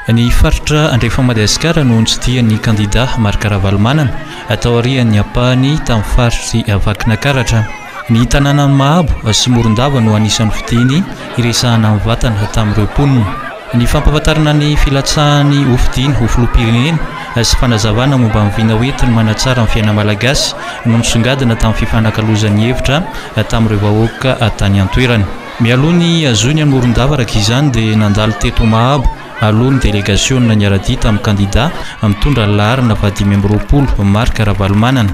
Ny faritra andrefan'i Madagasikara no nitsidihan'ny kandidà Marc Ravalomanana, tao aorian'ny ampahany tamin'ny faritr'i Vakinankaratra. Ny tanànan'i Mahabo sy Morondava no anisan'ny fidiny hiresahana ny vatana tamin'ireo mponina. Ny fampahafantarana ny filatsahany hofidina ho filoham-pirenena sy fanazavana momba ny vina hoentiny manatsara ny fiainan'ny Malagasy no nisongadina tamin'ny fifanakalozan'ny hevitra tamin'ireo vahoaka tany an-toerana. Mialoha ny hazoiny hamoron-davaraky izany dia nandalo teto Mahabo aloha ny delegasiona niara-dia tamin'ny kandida mitondra ny laharana fahadimy amby roapolo, Marc Ravalomanana.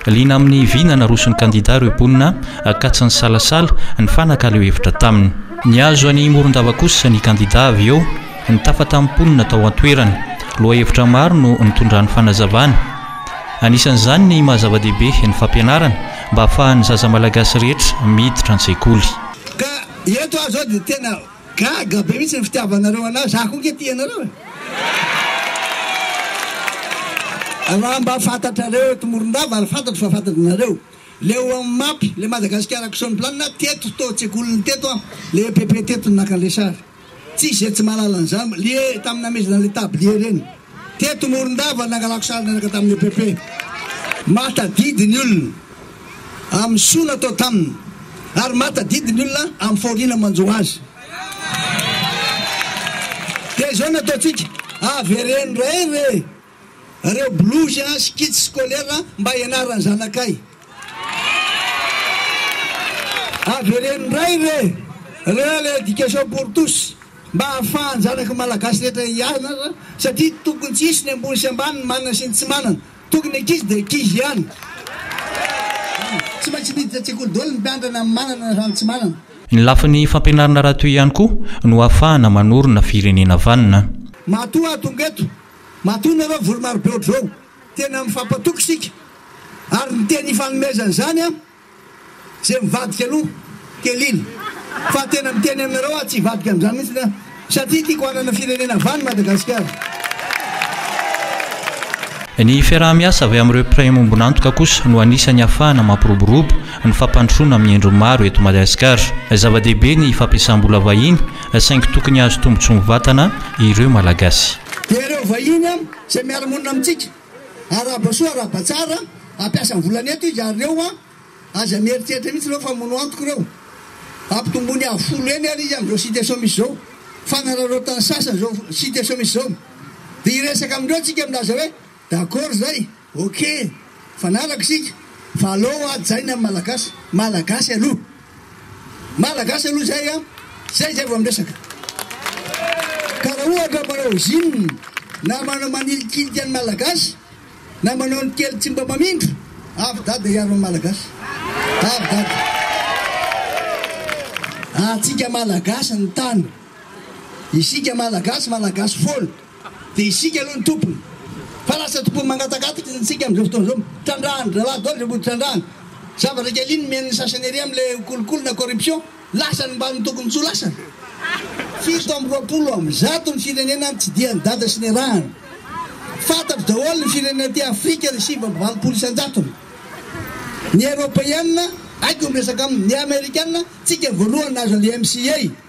Liana amin'ny vy na naroson'ny kandida ireo mponina Ankatso nisalasala, nifanakalo hevitra taminy. Nihazo an'i Morondava kosa ny kandida avy eo, nitafa tamin'ny mponina tao an-toerana. Lohahevitra maro no nitondrany fanazavana. Anisan'izany ny maha-zava-dehibe ny fampianarana, mba afahan'ny zaza malagasy rehetra miditra an-tsekoly. Ka eto aho zao dia tena gaga be mihitsy ny fitiavanareo anah, za koa ange tia anareo e! Raha mba fantatrareo eto Morondava ary fantatro fa fantatranareo, le ao amin'ny map, le Madagascar Action Plan, teto tao an-tsekoliny teto aho, le EPP teto no naka an'le sary. Tsy izay tsy mahalala an'izany, lie tamin'ny namezana an'ilay tablier ireny. Teto Morondava no nangalako sary niaraka tamin'ny EPP. Mahatadidy ny olona amin'ny soa natao taminy ary mahatadidy ny olona amin'ny fahoriana manjo azy. Dia izao no ataontsika, avereno indray re! Reo bolozy a skits scolaire mba ianarany zanakay. Avereno ndray re reo le education pour tous mba hahafahan zanaky malagasy rehetra hianatra satria tokony tsy hisy ny ambony sy ambany ny manana sy ny tsy manana tokony ankizy de ankizy ihany tsy maintsy miditra an-tsekoly daholo ny mpiantrana ny manana na ny tsy manana. Ny lafiny fampianarana raha toy ihany koa no hahafahana manorina firenena vanona. Matoa ato ngo eto Matoa nareo voromarobe ohatr'izao, tena mifampatoky isika, ary ny teny ifanomezana izany an, izay mivadika aloha telily, fa tena miteny aminareo aho tsy hivadika amin'izany mihitsy an, satria tiako hanana firenena vany Madagasikara. Ny fiaraha-miasa avy amin'ireo mpiray ambombon'antoka kosa no anisan'ny ahafahana mampiroborobo ny fampandrosoana amin'ny endriny maro eto Madagasikara. Zava-dehibe ny fampiasam-bola vahiny saingy tokony hahazo tombotsoa mivatana ireo Malagasy. Dia ireo vahiny izay miara-monina amintsika, arahaba soa arahaba tsara, ampiasa ny volany eto izy ary ireo aza mieritreritra mihitsy ireo fa mono antoko ireo, ampitomboiny avo folo heny ary izy amin'izao situation misy izao, fanararaotan'ny sasany izao situation misy izao, dia hiresaka amindreo tsika milaza hoe d'accord izay. Ok! Mifanaraka isika fa alou hoa jaina amin'ny Malagasy! Malagasy aloha! Malagasy aloha izay an! Izay zay vao miresaka! Ka raha ohatra manao usine na manao manilikilika an'ny Malagasy na manao ny kely tsy mba mamindra, avy dada hiaro an'ny Malagasy! Avy dada! Antsika Malagasy ny tany! Isika Malagasy, Malagasy foana! Dia isika aloha ny tompony. Fa lasa tompony mangatakatika isika amin'izao fotoana izao. Mitrandrahana draharaha daholo izay mody trandrahana. Zavatra kely iny nomen'ny sasany ery amin'ilay kolikoly na corruption, lasa ny mbamin'ny tokony tsy ho lasany. Fito amby roapolo amby zato ny firenena nitsidihan'i Dada sy niarahany. Fantatro daholo ny firenena aty Afrika ny sivy amby valopolo isan-jatony. Ny Eropeana, haiko ny miresaka aminy. Ny Amerikana, tsika voalohany nahazo an'ilay MCA.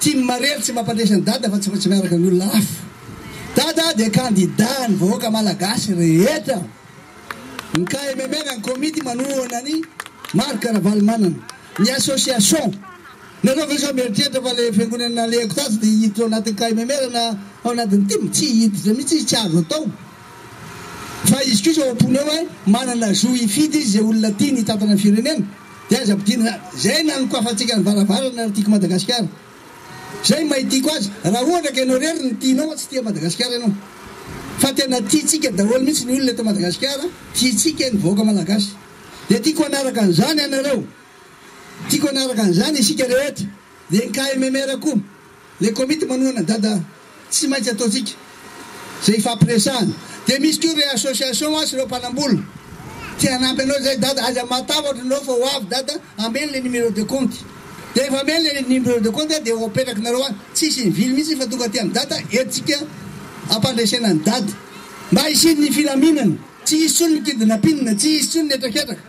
Tian'i Marely tsy mampandresy an'i Dada fa tsy maintsy miaraka ny olona hafa. Dada dia kandida an'ny vahoaka malagasy rehetra. Ny KMMR, ny komity manohana an'i Marc Ravalomanana. Ny association. Ianareo ve sao mieritreritra fa ilay fiangonana nalehako tatsy dia hiditra ao anatin'ny KMMR na ao anatin'ny tim? Tsy hiditra mihitsy izy, tsy azo atao. Fa izy kosa ao am-pony ao hoe manana zo hifidy izy izay olona tiany hitantana ny firenena. Dia aza ampidirina izany. Izay nanokafantsika ny varavarana ary tiako Madagasikara. Izay ny maha tiako azy. Raha ohatra ka ianao irery no tianao an tsy tia Madagasikara ianao. Fa tena tiantsika daholo mihitsy ny olona eto Madagasikara, tiantsika ny vahoaka Malagasy. Dia tiako hanaraka an'izany ianareo. Tiako hanaraka an'izany isika rehetra. Dia ny KMMR koa. Le komity manohana dada tsy maintsy ataontsika ze ifampiresahana de misy ko re association a sy reo mpanambola te hanampy anao zay dada aza matahotra anao fa ho avy dada ameno le numero de compte de refa ameno le numero de compte de ho apetrakinareo any tsisy mivily mitsy fa tonga aty am dada eto tsika ampandresena ny dada mba hisian'ny filaminana tsy hisy tsony ny kidnapping tsy hisy tsony ny hetraketraka.